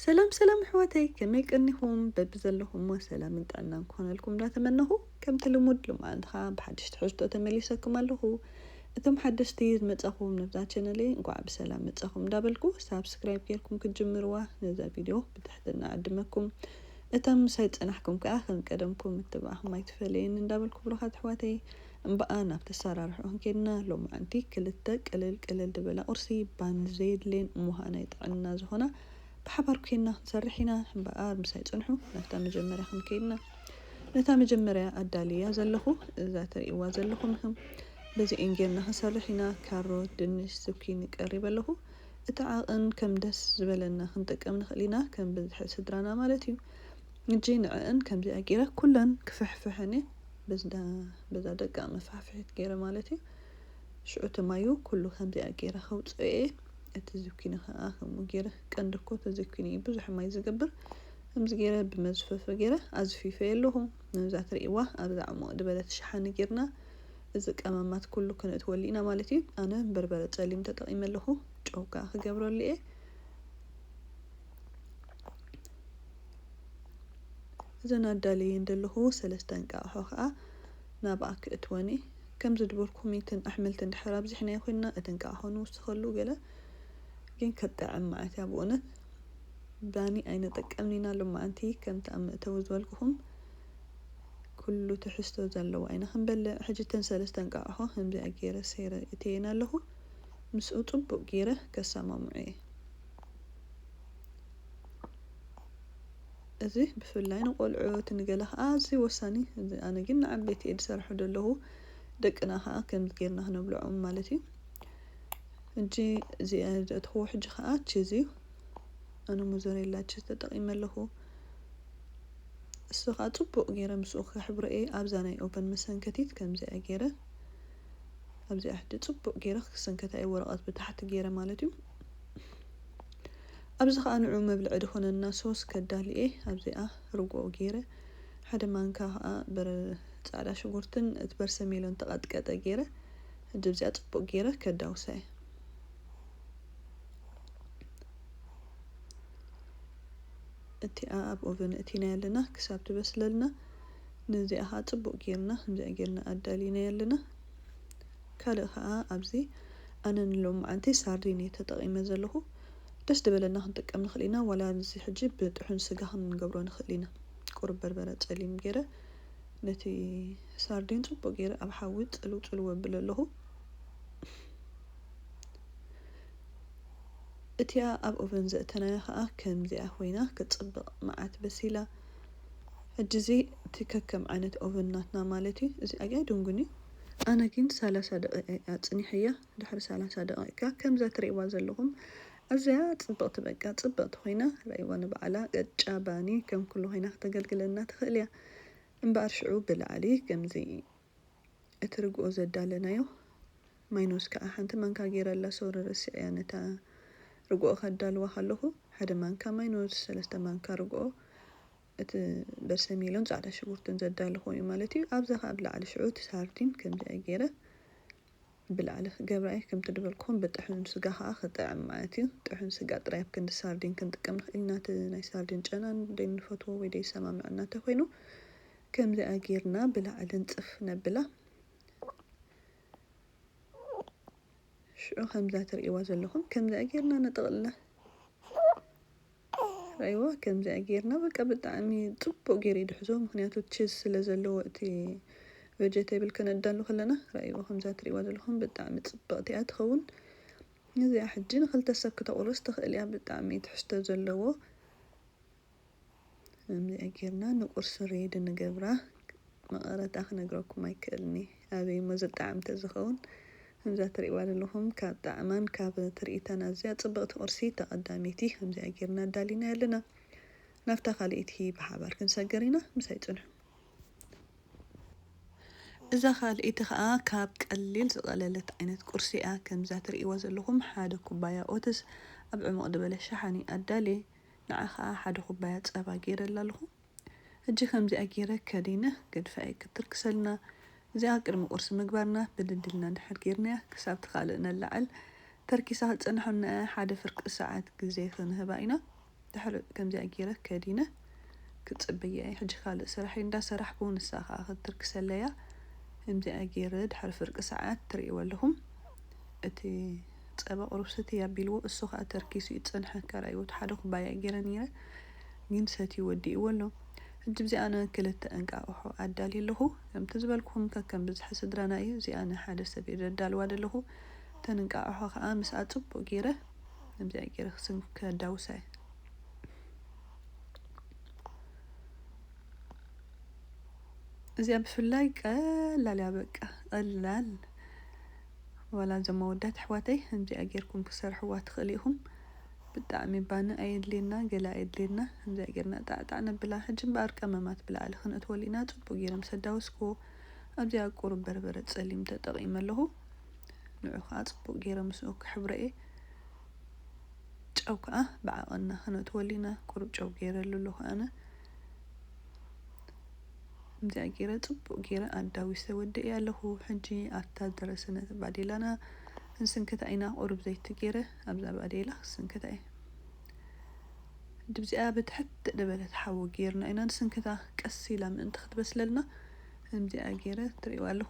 ሰላም ሰላም ኣሕዋተይ ከመይ ቀኒኹም በብዘለኹሞ ሰላምን ጥዕናን ክኾነልኩም እንዳተመነኹ ከምቲ ልሙድ ልማዓንቲ ከዓ ብሓድሽ ትሕዝቶ ተመሊሰኩም ኣለኹ እቶም ሓደሽቲ ዝመጻኹም ነብዛ ቸነለይ እንኳዕ ብሰላም መጻኹም እንዳበልኩ ሳብስክራይብ ጌርኩም ክትጅምርዋ ነዛ ቪድዮ ብትሕትና ዕድመኩም እቶም ምሳይ ዝጸናሕኩም ከዓ ከም ቀደምኩም ምትብባዕኹም ኣይትፈለየኒ እንዳበልኩ ብሩኻት ኣሕዋተይ እምበኣር ናብቲ ኣሰራርሕኡ ክንከይድና ሎምዓንቲ ክልተ ቅልል ቅልል ዝበላ ቁርሲ ባኒ ዘየድልየን እሞኸኣ ናይ ጥዕና ዝኾና ብሓባር ኮይንና ክንሰርሕ ኢና እምበኣር ምሳይ ጽንሑ ናብታ መጀመርያ ክንከይድና ነታ መጀመርያ ኣዳልየያ ዘለኹ እዛ ትርእይዋ ዘለኹም እህም በዚኤን ጌርና ክንሰርሕ ኢና ካሮት ድንሽ ዝኩኒ ቀሪበ ኣለኹ እቲ ዓቕን ከም ደስ ዝበለና ክንጥቀም ንኽእል ኢና ከም ብዝሒ ስድራና ማለት እዩ እጂ ንዐኣን ከምዚኣ ጌረ ኩለን ክፍሕፍሐን እየ በዝዳ በዛ ደቃ መፋሕፍሒት ገይረ ማለት እዩ ሽዑ እቲ ማዩ ኩሉ ከምዚኣ ገይረ ከውጽኦ እየ እቲ ዝኪኒ ከኣ ከምኡ ገይረ ቀንዲ እኮ እቲ ዝኪኒ እዩ ብዙሕ ማይ ዝገብር ከምዚ ገይረ ብመዝፈፊ ገይረ ኣዝፊፈዮ ኣለኹ ነዛ ትርእይዋ ኣብዛ ዕሙቕ ዝበለት ሸሓኒ ጌርና እዚ ቀመማት ኩሉ ክነእትወሉ ኢና ማለት እዩ ኣነ በርበረ ጸሊም ተጠቒመ ኣለኹ ጨው ከኣ ክገብረሉ እየ እዘን ኣዳልየየን ደለኹ ሰለስተ እንቃቕሖ ከኣ ናብኣ ክእትወን እየ። ከም ዝድበርኩ ኮሚትን ኣሕምልትን ድሕር ኣብዚሕናዮ ኮይንና እቲ እንቃቕሖ ንውስኸሉ ገለ ግን ክጥዕም ማዓትያ ብኡነት ባኒ ኣይንጥቀምን ኢና ሎማዓንቲ ከምቲ ኣብ መእተዊ ዝበልኩኹም ኩሉ ትሕዝቶ ዘለዎ ኣይና ክንበልዕ ሕጂ እተን ሰለስተ እንቃቕሖ ከምዚኣ ጌረ ሰይረ እእትየን ኣለኹ ምስኡ ጽቡቕ ጌረ ከሳማምዖ እየ። እዚ ብፍላይ ንቆልዑ እቲ ንገለ ከኣ ኣዝዩ ወሳኒ እዚ ኣነ ግን ንዓበይቲ እየ ዝሰርሖ ዘለኹ ደቅና ከኣ ከምዚ ጌርና ክነብልዖም ማለት እዩ ሕጂ እዚ ዘእተኽዎ ሕጂ ከኣ ቺዝ እዩ ኣነ ሞዘሬላ ቺዝ ተጠቂመ ኣለኹ እሱ ከኣ ጽቡቅ ጌረ ምስኡ ከሕብሮ እየ ኣብዛ ናይ ኦቨን መሰንከቲት ከምዚኣ ጌረ ኣብዚኣ ሕጂ ጽቡቅ ጌረ ክሰንከታ እየ ወረቀት ብታሕቲ ጌረ ማለት እዩ ኣብዚ ከኣ ንዑ መብልዒ ድኮነና ሶስ ከዳሊ እየ ኣብዚኣ ርጎኦ ገይረ ሓደ ማንካ ከኣ በረ ጻዕዳ ሽጉርትን እቲ በርሰሜሎን ተቀጥቀጠ ገይረ ሕጂ ኣብዚኣ ጽቡቅ ገይረ ከዳውሳ እየ። እቲኣ ኣብ ኦቨን እእቲናያ ኣለና ክሳብ ትበስለልና ንዚኣ ከኣ ጽቡቅ ገይርና ከምዚኣ ገይርና ኣዳሊናያ ኣለና። ካልእ ከኣ ኣብዚ ኣነ ንሎምዓንቲ ሳርዲን እየ ተጠቂመ ዘለኩ ደስ ደበለና ክንጥቀም ንክእል ኢና ዋላ ኣብዚ ሕጂ ብጥሑን ስጋ ክንገብሮ ንክእል ኢና ቁሩብ በርበረ ጸሊም ጌረ ነቲ ሳርዲን ጽቡቅ ጌረ ኣብ ሓዊ ጽልው ጽልው ኣብሎ ኣለኩ እቲኣ ኣብ ኦቨን ዘእተናያ ከኣ ከምዚኣ ኮይና ክትጽብቅ መዓት በሲላ ሕጂ እዚ እቲ ከከም ዓይነት ኦቨን ናትና ማለት እዩ እዚ ኣያ ድንጉን እዩ ኣነ ግን ሰላሳ ደቂቅ እየ ኣጽኒሐያ ድሕሪ ሰላሳ ደቂቅ ከኣ ከምዛ ትርእይዋ ዘለኹም ኣዝያ ጽብቅቲ በቃ ጽብቅቲ ኮይና ረኣይዋ ንባዕላ ቅጫ ባኒ ከም ኩሉ ኮይና ክተገልግለና ትኽእል እያ እምበኣር ሽዑ ብላዕሊ ከምዚ እቲ ርግኦ ዘዳለናዮ ማይኖስ ከኣ ሓንቲ ማንካ ገይረ ኣላ ሶሪ ረሲዐያ ነታ ርግኦ ከዳልዋ ከለኩ ሓደ ማንካ ማይኖስ ሰለስተ ማንካ ርግኦ እቲ በርሰሚሎን ጻዕዳ ሽጉርትን ዘዳለክዎ እዩ ማለት እዩ ኣብዛ ከኣ ኣብ ላዕሊ ሽዑ እቲ ሳርዲን ከምዚኣ ገይረ ብላዕሊ ክገብራ'የ ከምቲ ድበልክዎም ብጥሑን ስጋ ከኣ ክጥዕም ማለት'ዩ ጥሑን ስጋ ጥራይ ኣብ ክንዲ ሳርዲን ክንጥቀም ንክእል ኢና እቲ ናይ ሳርዲን ጨና ደይንፈትዎ ወይ ደይሰማምዐና እንተኮይኑ ከምዚኣ ጌርና ብላዕሊ ንጽፍ ነብላ ሽዑ ከምዛ ትርእይዋ ዘለኩም ከምዚኣ ጌርና ንጥቅልላ። ራይዋ ከምዚኣ ጌርና በቃ ብጣዕሚ ጽቡቅ ጌሩ ይድሕዞ ምክንያቱ ቺዝ ስለ ዘለዎ እቲ ቨጀቴብል ከነዳሉ ከለና ራይዋ ከምዛ ትሪእዋ ዘለኩም ብጣዕሚ ጽብቅቲ እያ ትከውን ነዚኣ ሕጂ ንክልተ ሰብ ክተቁርስ ትክእል እያ ብጣዕሚ ትሕዝቶ ዘለዎ ከምዚኣ ጌርና ንቁርሲ ሬድ ንገብራ መቀረታ ክነግረኩም ኣይክእልኒ ኣበይ እሞ ዝጣዕም ተዝከውን ከምዛ ትርእይዋ ዘለኹም ካብ ጣዕማን ካብ ትርኢታን ኣዝያ ጽብቕቲ ቁርሲ ተቐዳመይቲ ከምዚኣ ጌርና ኣዳሊናያ ኣለና። ናብታ ካልኣይቲ ብሓባር ክንሰግር ኢና። ምሳይ ጽንሑ። እዛ ካልኣይቲ ከኣ ካብ ቀሊል ዝቐለለት ዓይነት ቁርሲ እያ። ከምዛ ትርእይዋ ዘለኹም ሓደ ኩባያ ኦትስ ኣብ ዕሙቕ ድበለ ሸሓኒ ኣዳልየ። ንዓ ከኣ ሓደ ኩባያ ጸባ ጌረላ ኣለኹ። ሕጂ ከምዚኣ ጌረ ከዲነ ገድፈ ኣይክትርክሰልና እዚኣ ቅድሚ ቁርሲ ምግባርና ብድድ ኢልና ድሕር ጌርናያ ክሳብ ትካልእ ነላዕል ተርኪሳ ክትጸንሕ እሞ ሓደ ፍርቂ ሰዓት ግዜ ክንህባ ኢና ድሕሪ ከምዚኣ ጌረ ከዲነ ክጽበያየ ሕጂ ካልእ ስራሐይ እንዳ ሰራሕኩ ንሳ ከኣ ክትርክሰለያ ከምዚኣ ጌረ ድሕሪ ፍርቂ ሰዓት ትርእይዎ ኣለኹም እቲ ጸባ ቁሩብ ስትይ ኣቢልዎ እሱ ከኣ ተርኪሱ እዩ ዝጸንሐ ከራይ ወትሓደ ኩባያ ጌረ ኔረ ግን ሰትዩ ወዲእዎ ኣሎ። ሕጂ ብዚ ኣነ ክልተ እንቃቕሖ ኣዳልየ ኣለኹ። ከምቲ ዝበልኩኹም ከከም ብዝሒ ስድራና እዩ። እዚኣ ንሓደ ሰብ እየ ዘዳልዋ ዘለኹ። እተን እንቃቕሖ ከኣ ምስኣ ጽቡቕ ገይረ ከምዚኣ ገይረ ክስንክ ከዳውሳ እየ። እዚኣ ብፍላይ ቀላል እያ በቃ ቀላል ዋላ እዞም ኣወዳት ኣሕዋተይ ከምዚኣ ጌርኩም ክሰርሕዋ ትኽእሉ ኢኹም። ብጣዕሚ ባኒ ኣየድልየና ገለ ኣየድልየና ከምዚኣ ጌርና ጣዕ ጣዕ ነብላ ሕጂ እምበኣር ቀመማት ብላዕሊ ከነእትወሉ ኢና ጽቡቅ ጌረ ምስ ኣዳወስክዎ ኣብዚኣ ቁሩብ በርበረ ጸሊም ተጠቂመ ኣለኩ ንዑ ከኣ ጽቡቅ ጌረ ምስኡ ክሕብሮ እየ ጨው ከኣ ብዓቀንና ከነእትወሉ ኢና ቁሩብ ጨው ጌረሉ ኣለኩ ኣነ ከምዚኣ ጌረ ጽቡቅ ጌረ ኣዳዊሰ ወዲኤ ኣለኩ ሕጂ ኣብታ ዝደረሰነት ባዴላና ክንስንክታ ኢና ቁሩብ ዘይቲ ጌረ ኣብዛ ባዴላ ክስንክታ እየ ድብዚኣ ብትሕት ድበለት ሓዊ ገይርና ኢና ንስንክታ ቀስ ኢላ ምእንቲ ክትበስለልና ከምዚኣ ገይረ ትርእይዋ ኣለኹ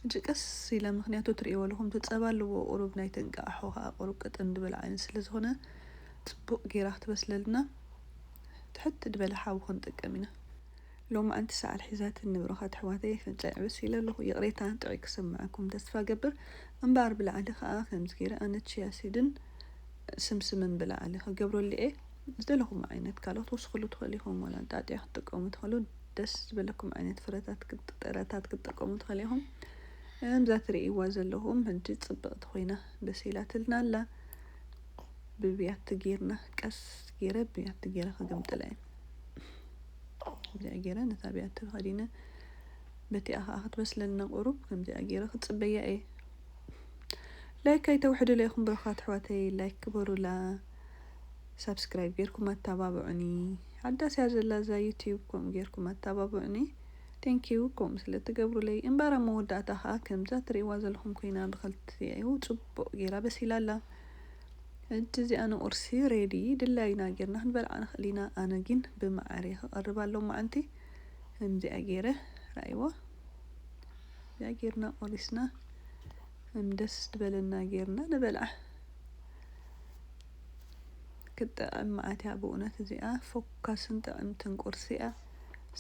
ሕጂ ቀስ ኢላ ምክንያቱ ትርእይዎ ኣለኹም እቲ ጸባ ኣለዎ ቁሩብ ናይ ተንቃኣሖ ከኣ ቁሩብ ቀጠን ድበለ ዓይነት ስለ ዝኾነ ጽቡቅ ገይራ ክትበስለልና ትሕት ድበለ ሓዊ ክንጥቀም ኢና። ሎማዕንቲ ሰዓል ሒዛትኒ ብሩኻት ኣሕዋተይ ኣፍንጫይ ዕብስ ኢለ ኣለኹ ይቕሬታ ጥዑይ ክስመዐኩም ተስፋ እገብር እምበኣር ብላዕሊ ከኣ ከምዚ ጌረ ኣነ ቺያ ሲድን ስምስምን ብላዕሊ ክገብረሉ እየ ዝደለኹሞ ዓይነት ካልኦት ወስኽሉ ትኽእሉ ኢኹም ዋላ እንጣጥያ ክትጥቀሙ ትኽእሉ ደስ ዝበለኩም ዓይነት ፍረታት ጥረታት ክትጥቀሙ ትኽእሉ ኢኹም እምዛ ትርእይዋ ዘለኹም ሕጂ ጽብቕቲ ኮይና በሲላትልና ኣላ ብብያቲ ጌርና ቀስ ጌረ ብያቲ ጌረ ክግምጥላ እየ ከምዚኣ ጌረ ነታ ብያቲ ተኸዲነ በቲኣ ከኣ ክትበስለና ቁሩብ ከምዚኣ ጌረ ክጽበያ እየ ላይክ ኣይተውሕዱለይ ኢኹም ብሩኻት ኣሕዋተይ ላይክ ግበሩላ ሳብስክራይብ ጌርኩም ኣተባብዑኒ ሓዳስ እያ ዘላ እዛ ዩቲዩብ ከምኡ ጌርኩም ኣተባብዑኒ ቴንኪዩ ከምኡ ስለ ትገብሩለይ እምበኣር ኣብ መወዳእታ ከኣ ከምዛ ትርእይዋ ዘለኹም ኮይና ብኸልቲኡ ጽቡቕ ጌራ በሲላ ኣላ ሕጂ እዚኣ ንቁርሲ ሬዲ ድላዩና ጌርና ክንበልዓ ንክእል ኢና ኣነ ጊን ብመዓር እየ ክቀርባ ሎማዓንቲ ከምዚኣ ጌረ ራኣይዋ እዚኣ ጌርና ቆሪስና ከም ደስ ድበለና ጌርና ንበልዓ ክትጥዕም መዓት እያ ብእውነት እዚኣ ፎካስን ጥዕምትን ቁርሲ እያ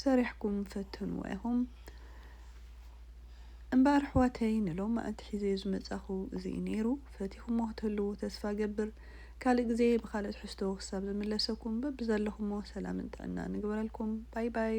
ሰሪሕኩም ፈትንዋ ኢኹም እምበኣር ኣሕዋተይ ንሎም መኣልቲ ሒዘዮ ዝመጻኹ እዚ እዩ ነይሩ ፈቲኹሞ ክትህልዉ ተስፋ እገብር ካልእ ግዜ ብኻልእ ትሕዝቶ ክሳብ ዝምለሰኩም በብዘለኹሞ ሰላምን ጥዕናን እግበረልኩም ባይ ባይ።